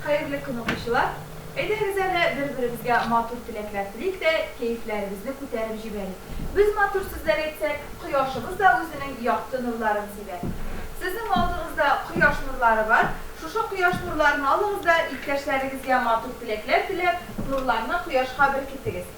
Хәерле көн укучылар! Әйдәгез әле бер-беребезгә матур теләкләр телик тә, кәефләребезне күтәреп җибәрик. Без матур сүзләр әйтсәк, кояшыбыз да үзенең якты нурларын сибәр. Сезнең алдыгызда кояш нурлары бар, шушы кояш нурларын алыгыз да иптәшләрегезгә матур теләкләр теләп, нурларны кояшка беркетегез.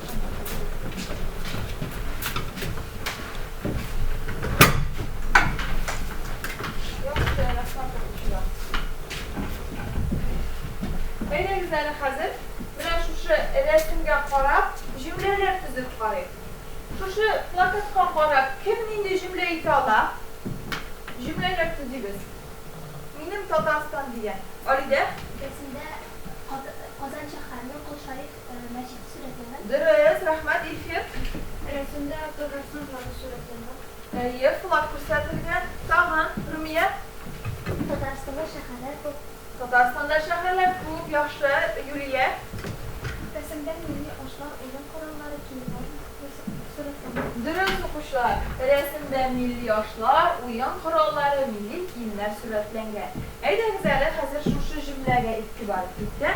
Әйдәгез хәзер менә шушы рәсемгә карап, җөмләләр төзеп карыйк. Шушы плакатка карап, кем нинди җөмлә әйтә ала? Җөмләләр төзибез. Минем Татарстан дигән. Алидә? Рәсемдә Казан шәһәренең Кол Шариф мәчет сурәтләнә. Дөрес, рәхмәт, Илфир. Рәсемдә авторның сызлавы сурәтләнә. Әйе, флаг күрсәтелгән. Тагын, Румия? Татарстанда шәһәрләр күп. Татарстанда шәһәрләр күп, яхшы. Юлия? Рәсемдә милли ашлар, уен кораллары, киемнәр сурәтләнә. Дөрес, укучылар. Рәсемдә милли ашлар, уен кораллары, милли киемнәр сурәтләнгән. Әйдәгез әле, хәзер шушы җөмләгә игътибар итик тә.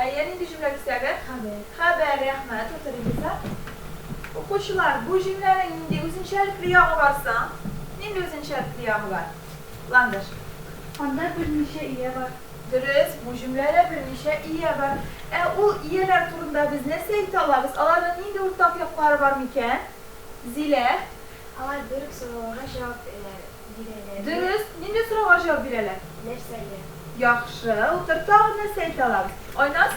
Әйе, нинди җөмлә кисәге? Хәбәр. Хәбәр, рәхмәт, утырыгыз да. Укучылар, бу җөмләнең нинди үзенчәлекле ягы бар соң? Нинди үзенчәлекле ягы бар? Ландыш. Анда берничә ия бар. Дөрес, бу җөмләдә берничә ия бар. Ә ул ияләр турында без нәрсә әйтә алабыз? Аларның нинди уртак яклары бар микән? Зилә. Алар бер үк сорауларга җавап бирәләр. дигәннәр. Дөрес, нинди сорауга җавап бирәләр? Нәрсәгә? Яхшы, утыр, тагын нәрсә әйтә алабыз? Айназ?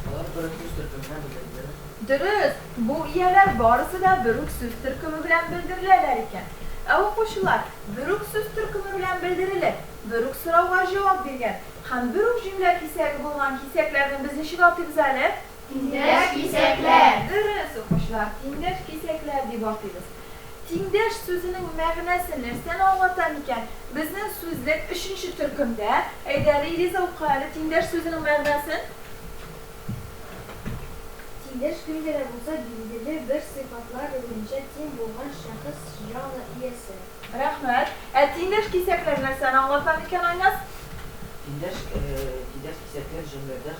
Алар бер үк сүз төркеменнән белдерделәр. Дөрес, бу ияләр барысы да бер үк сүз төркеме белән белдереләләр икән. Ә укучылар бер үк сүз төркеме белән белдерелеп, бер үк сорауга җавап биргән һәм бер үк җөмлә кисәге булган кисәкләрне без ничек атыйбыз әле? Тиңдәш кисәкләр! Дөрес, укучылар, тиңдәш кисәкләр дип атыйбыз. Тиңдәш сүзенең мәгънәсе нәрсәне аңлата микән? Безнең сүзлек өченче төркемдә. Әйдә, Риза укы әле тиңдәш сүзенең мәгънәсен. Тиңдәш кемгә дә булса билгеле бер сыйфатлар буенча тиң булган шәхес, җаны иясе. Рәхмәт. Ә тиңдәш кисәкләр нәрсәне аңлата микән, Айназ? Тиңдәш кисәкләр җөмләдә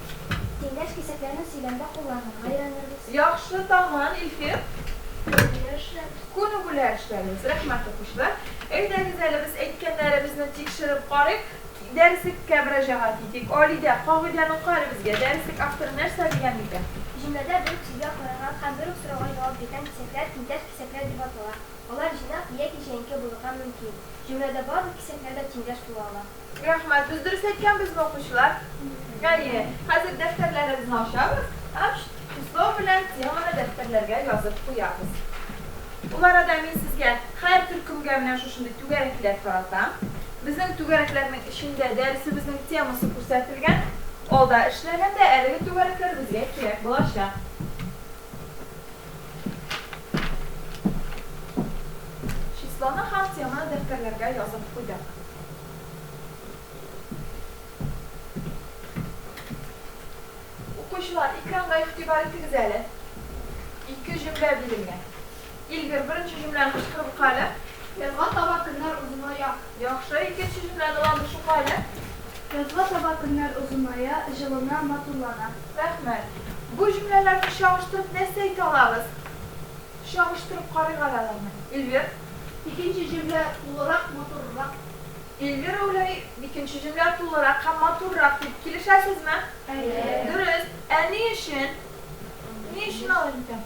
Тиңдәш кисәкләрне сөйләмдә кулланырга өйрәнербез. Яхшы таман, Илфир. Күне бүләк эшләбез. Күне бүләк эшләбез. Рәхмәт, укучылар. Әйдәгез әле без әйткәннәребезне тикшереп карыйк. Дәреслеккә мөрәҗәгать итик. Алидә, кагыйдәне ука әле безгә. Дәреслек авторы нәрсә дигән микән? Җөмләдә бер үк сүзгә каралган һәм бер үк сорауга җавап биргән кисәкләр тиңдәш кисәкләр дип атала. Алар җыйнак яки җәенке булырга мөмкин. Җөмләдә барлык кисәкләр дә тиңдәш була ала. Рәхмәт, без дөрес әйткәнбезме, укучылар? Әйе. Хәзер дәфтәрләребезне ачабыз һәм число белән теманы дәфтәрләргә язып куябыз. Ул арада мин сезгә һәр төркемгә менә шушындый түгәрәкләр таратам. Безнең түгәрәкләрнең эчендә дәресебезнең темасы күрсәтелгән. Алда эшләгәндә әлеге түгәрәкләр безгә кирәк булачак. Числоны һәм теманы дәфтәрләргә язып куйдык. Укучылар, экранга игътибар итегез әле. Ике җөмлә бирелгән. Илгир, беренче җөмләне кычкырып ука әле. Язга таба көннәр озыная. Яхшы, икенче җөмләне дә укыйк әле. Язга таба көннәр озыная, җылына, матурлана. Рәхмәт. Бу җөмләләрне чагыштырып нәрсә әйтә алабыз? Чагыштырып карыйк әле аларны. Эльвир. Икенче җөмлә тулырак, матуррак. Эльвир Әүләй, икенче җөмлә тулырак һәм матуррак дип килешәсезме? Әйе. Дөрес. Ә ни өчен? Ни өчен алай икән?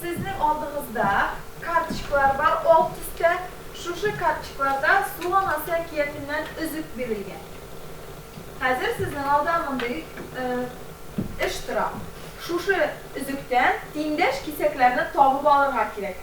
Сезнең алдыгызда карточкалар бар ал төстә, шушы карточкаларда Суган Асы әкиятеннән өзек бирелгән. Хәзер сезнең алда мондый эш тора. Шушы өзектән тиңдәш кисәкләрне табып алырга кирәк.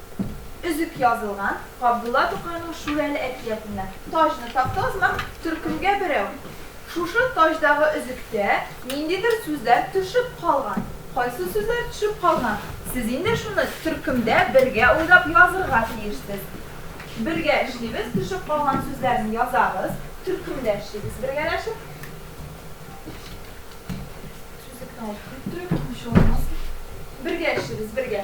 Өзек язылган Габдулла Тукайның Шүрәле әкиятеннән. Таҗны такты озма, төркемгә берәү. Шушы таҗдагы өзектә ниндидер сүзләр төшеп калган. Кайсы сүзләр төшеп калган? Сез инде шуны төркемдә бергә уйлап язырга тиешсез. Бергә эшлибез, төшеп калган сүзләрне язабыз, төркемдә эшлибез бергәләшеп. Бергә эшлибез, бергә.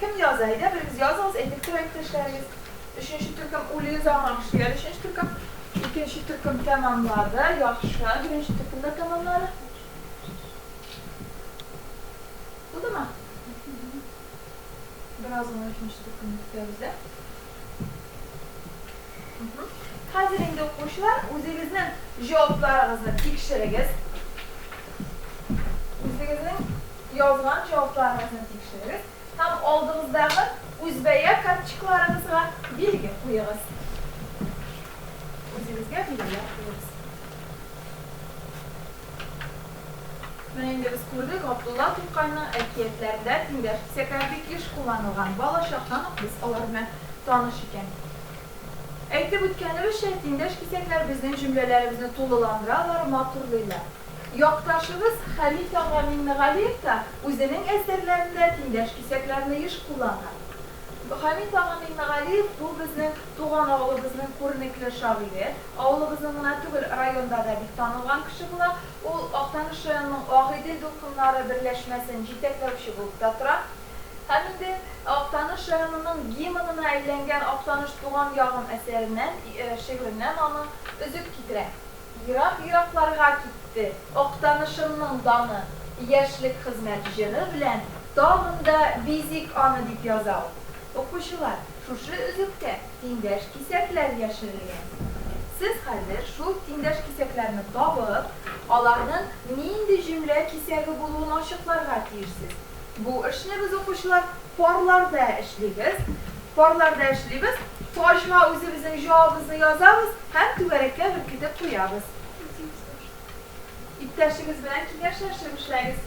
Кем яза? Әйдә, берегез языгыз, әйтеп торыйк кешеләрегез. Өченче төркем үле заман шигәр, өченче төркем. Икенче төркем тәмамлады, яхшы. Беренче төркем дә тәмамлады. Булдымы? Бераз гына өченче төркемне көтәбез дә. Хәзер инде укучылар үзегезнең җавапларыгызны тикшерегез. Үзегезнең язган җавапларыгызны тикшерегез һәм алдыгыздагы үзбәя карточкаларыгызга билге куегыз. Үзегезгә билгеләр куегыз. Менә инде без күрдек, Габдулла Тукайның әкиятләрендә тиңдәш кисәкләр бик еш кулланылган. Балачактан ук без алар белән таныш икән. Әйтеп үткәнебезчә, тиңдәш кисәкләр безнең җөмләләребезне тулыландыралар, матурлыйлар. Якташыбыз Хәмит ага Миңнегалиев та үзенең әсәрләрендә тиңдәш кисәкләрне еш куллана. Хәмит ага Миңнегалиев бу безнең Туган авылыбызның күренекле шагыйре, авылыбызның гына түгел, районда да бик танылган кеше була. Ул Актаныш районының Агыйдел дулкыннары берләшмәсен җитәкләүче булып та тора. Һәм инде Актаныш районының гимнына әйләнгән Актаныш туган ягым әсәреннән, шигыреннән аның өзек китерәм. Ерак-еракларга китте Актанышымның даны, Яшьлек хезмәт җыры белән тагын да бизик аны, дип яза ул. Укучылар! Шушы өзектә тиңдәш кисәкләр яшерелгән. Сез хәзер шул тиңдәш кисәкләрне табып, аларның нинди җөмлә кисәге булуын ачыкларга тиешсез. Бу эшне без, укучылар, парларда эшлибез. Парларда эшлибез, таҗга үзебезнең җавабыбызны язабыз һәм түгәрәккә беркетеп куябыз. Иптәшегез белән киңәшләшеп эшләгез.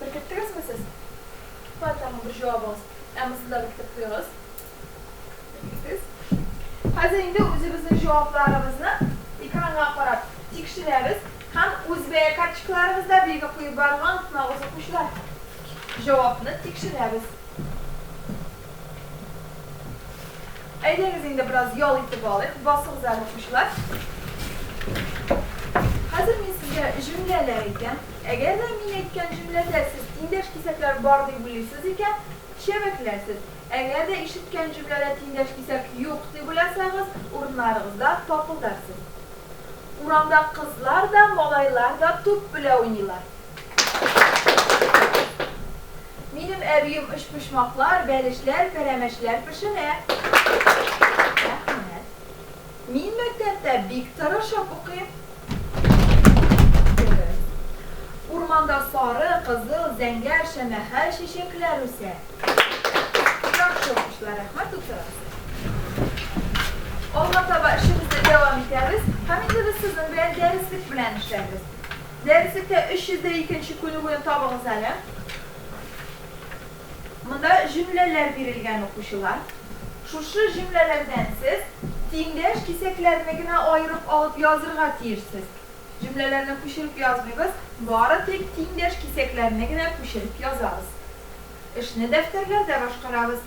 Беркеттегезме сез? Бар, тагын бер җавабыгыз. Әммасы да беркетеп куегыз. Беркеттегез. Хәзер инде үзебезнең җавапларыбызны экранга карап тикшерәбез һәм үз бәя карточкаларыбызда билге куеп барырга онытмагыз, укучылар. Җавапны тикшерәбез. Әйдәгез инде бераз ял итеп алыйк, басыгыз әле укучылар. Хәзер мин сезгә җөмләләр әйтәм. Әгәр дә мин әйткән җөмләдә сез тиңдәш кисәкләр бар дип уйлыйсыз икән, чәбәкләрсез. Әгәр дә ишеткән җөмләдә тиңдәш кисәк юк дип уйласагыз, урыннарыгызда тапылдарсыз. Урамда кызлар да, малайлар да туп белә уйныйлар. Минем әбием өчпочмаклар, бәлешләр, пәрәмәчләр пешерә. Рәхмәт. Мин мәктәптә бик тырышып укыйм. Дөрес. Урманда сары, кызыл, зәңгәр, шәмәхә чәчәкләр үсә. Яхшы укучылар, рәхмәт, утырыгыз. Алга таба эшебезне дәвам итәбез. Һәм инде без сезнең белән дәреслек белән эшләрбез. Дәреслеккә 302 нче күнегүне табыгыз әле. Монда җөмләләр бирелгән, укучылар. Шушы җөмләләрдән сез тиңдәш кисәкләрне генә аерып алып язырга тиешсез. Җөмләләрне күчереп язмыйбыз, бары тик тиңдәш кисәкләрне генә күчереп язабыз. Эшне дәфтәрләрдә башкарабыз.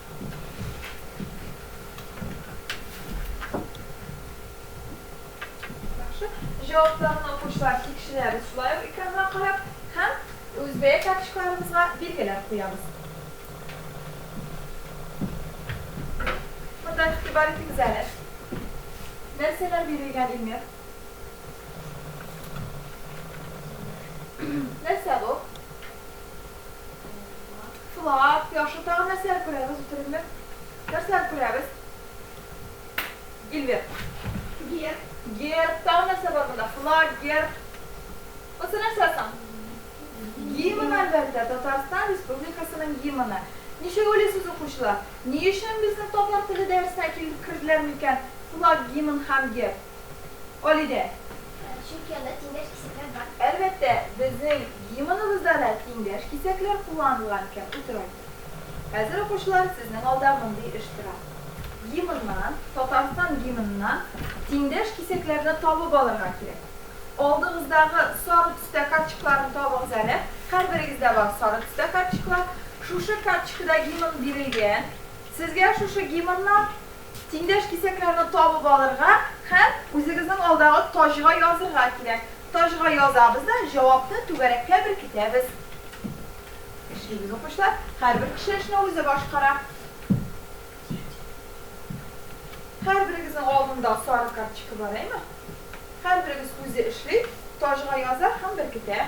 Җавапларны укучылар тикшерәбез, шулай ук экранга карап һәм үз бәя карточкаларыбызга билгеләр куябыз. Монда игътибар итегез әле. Нәрсәләр бирелгән, Илмир? Нәрсә бу? Сулап, яхшы, тагын нәрсәләр күрәбез, үтерекле? Нәрсәләр күрәбез? Ильвир. Герб. Герб, тагын нәрсә бар монда? Флаг, герб. Бусы нәрсә соң? Гимн, әлбәттә, Татарстан Республикасының гимны. Ничек уйлыйсыз, укучылар, ни өчен безнең татар теле дәресенә килеп керделәр микән флаг, гимн һәм герб? Алидә. Чөнки анда тиңдәш кисәкләр бар. Әлбәттә, безнең гимныбызда да тиңдәш кисәкләр кулланылган икән, утырайтык. Хәзер, укучылар, сезнең алда мондый эш тора. Гимннан, Татарстан гимныннан тиңдәш кисәкләрне табып алырга кирәк. Алдыгыздагы сары төстә картчыкларны табыгыз әле. Һәрберегездә бар сары төстә картчыклар. Шушы картчкыда гимн бирелгән. Сезгә шушы гимннан Тиңдәш кисәкләрне табып алырга һәм үзегезнең алдагы таҗга язырга кирәк. Таҗга язабыз да җавапны түгәрәккә беркетәбез. Эшлибез, укучылар. Һәрбер кеше эшне үзе башкара. Һәрберегезнең алдында сары карточка бар, әйме? Һәрберегез үзе эшли, таҗга яза һәм беркетә.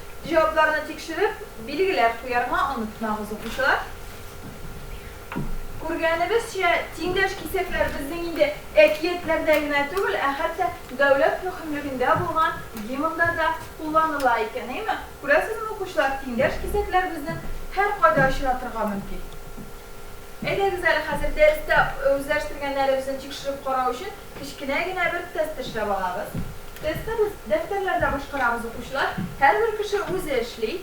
Җавапларны тикшереп, билгеләп куярга онытмагыз, укучылар. Күргәнебезчә, тиңдәш кисәкләр безнең инде әкиятләрдә генә түгел, ә хәтта дәүләт мөһимлегендә булган гимнда да кулланыла икән, әйме? Күрәсезме, укучылар, тиңдәш кисәкләр безнең һәркайда очратырга мөмкин. Әйдәгез әле хәзер дәрестә үзләштергәннәребезне тикшереп карау өчен Кечкенә генә бер тест эшләп алабыз. Тестны без дәфтәрләрдә башкарабыз, укучылар. Һәрбер кеше үзе эшли.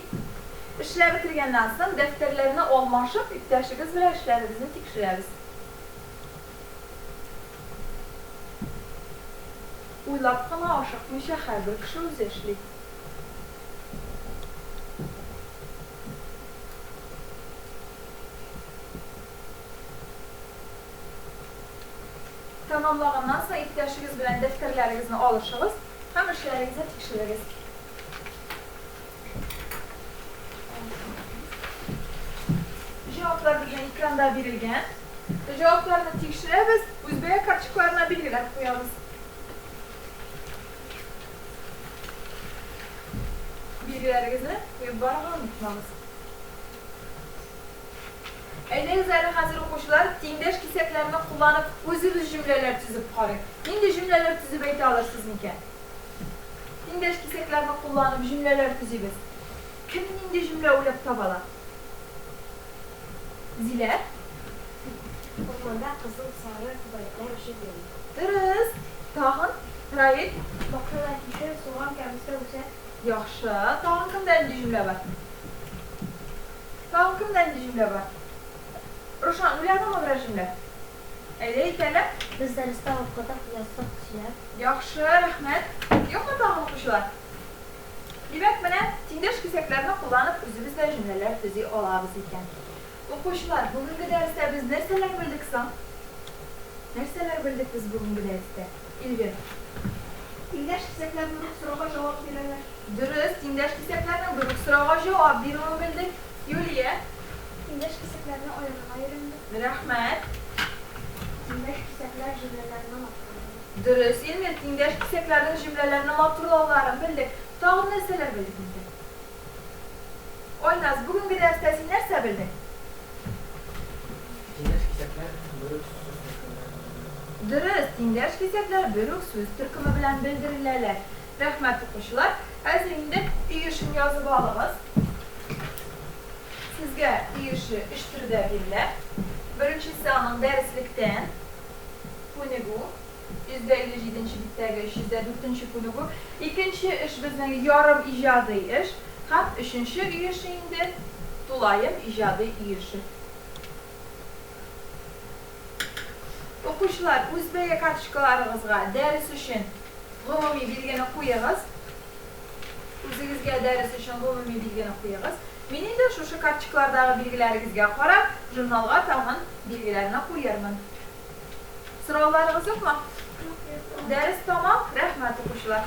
Эшләп бетергәннән соң, дәфтәрләрне алмашып, иптәшегез белән эшләрегезне тикшерәбез. Уйлап кына ашыкмыйча, һәрбер кеше үзе эшли. тәмамлаганнан соң иптәшегез белән дәфтәрләрегезне алышыгыз һәм эшләрегезне тикшерегез. Җаваплар безнең экранда бирелгән. Җавапларны тикшерәбез, үзбәя карточкаларына билгеләп куябыз. Билгеләрегезне куеп барырга онытмагыз. Әйдәгез әле хәзер, укучылар, тиңдәш кисәкләрне кулланып, үзебез җөмләләр төзеп карыйк. Нинди җөмләләр төзеп әйтә алырсыз микән? Тиңдәш кисәкләрне кулланып, җөмләләр төзибез. Кем нинди җөмлә уйлап таба ала? Зилә? Урманда кызыл, сары күбәләкләр үсеп йөри. Дөрес. Тагын? Раил? Бакчада кишер, суган, кәбестә үсә. Яхшы. Тагын кемдә нинди җөмлә бар? Тагын кемдә нинди җөмлә бар? Рушан, уйладыңмы берәр җөмлә? Әйдә, икәле. Без дәрестә укыдык, яздык, сөйләп. Яхшы, рәхмәт. Юкмы тагын укучылар? Димәк, менә тиңдәш кисәкләрне кулланып, үзебез дә җөмләләр төзи алабыз икән. Укучылар, бүгенге дәрестә без нәрсәләр белдек соң? Нәрсәләр белдек без бүгенге дәрестә? Эльвира. Тиңдәш кисәкләр берүк сорауга җавап бирәләр. Дөрес, тиңдәш кисәкләрнең берүк сорауга җавап бирүен белдек. Юлия. Тиңдәш кисәкләрне аерырга өйрәндек. Рәхмәт. Тиңдәш кисәкләр җөмләләрне матурлый. Дөрес, Ильмир, тиңдәш кисәкләрнең җөмләләрне матурлауларын белдек. Тагын нәрсәләр белдек инде? Айназ, бүгенге дәрестә син нәрсә белдең? Тиңдәш кисәкләр бер үк сүз төркеме белән белдерелә. Дөрес, тиңдәш кисәкләр бер үк сүз төркеме белән белдереләләр. Рәхмәт, укучылар. Хәзер инде өй эшен язып алыгыз. Сезгә өй эше өч төрдә бирелә. Беренчесе аның дәреслектән, күнегү. 157 нче биттәге 304 нче күнегү, икенче эш безнең ярым иҗади эш һәм өченче өлеше инде тулаем иҗади өлеше. Укучылар, үз бәя карточкаларыгызга дәрес өчен гомуми билгене куегыз. Үзегезгә дәрес өчен гомуми билгене куегыз. Мин инде шушы карточкалардагы билгеләрегезгә карап, журналга тагын билгеләрне куермын. Сорауларыгыз юкмы? Дәрес тәмам, рәхмәт укучылар.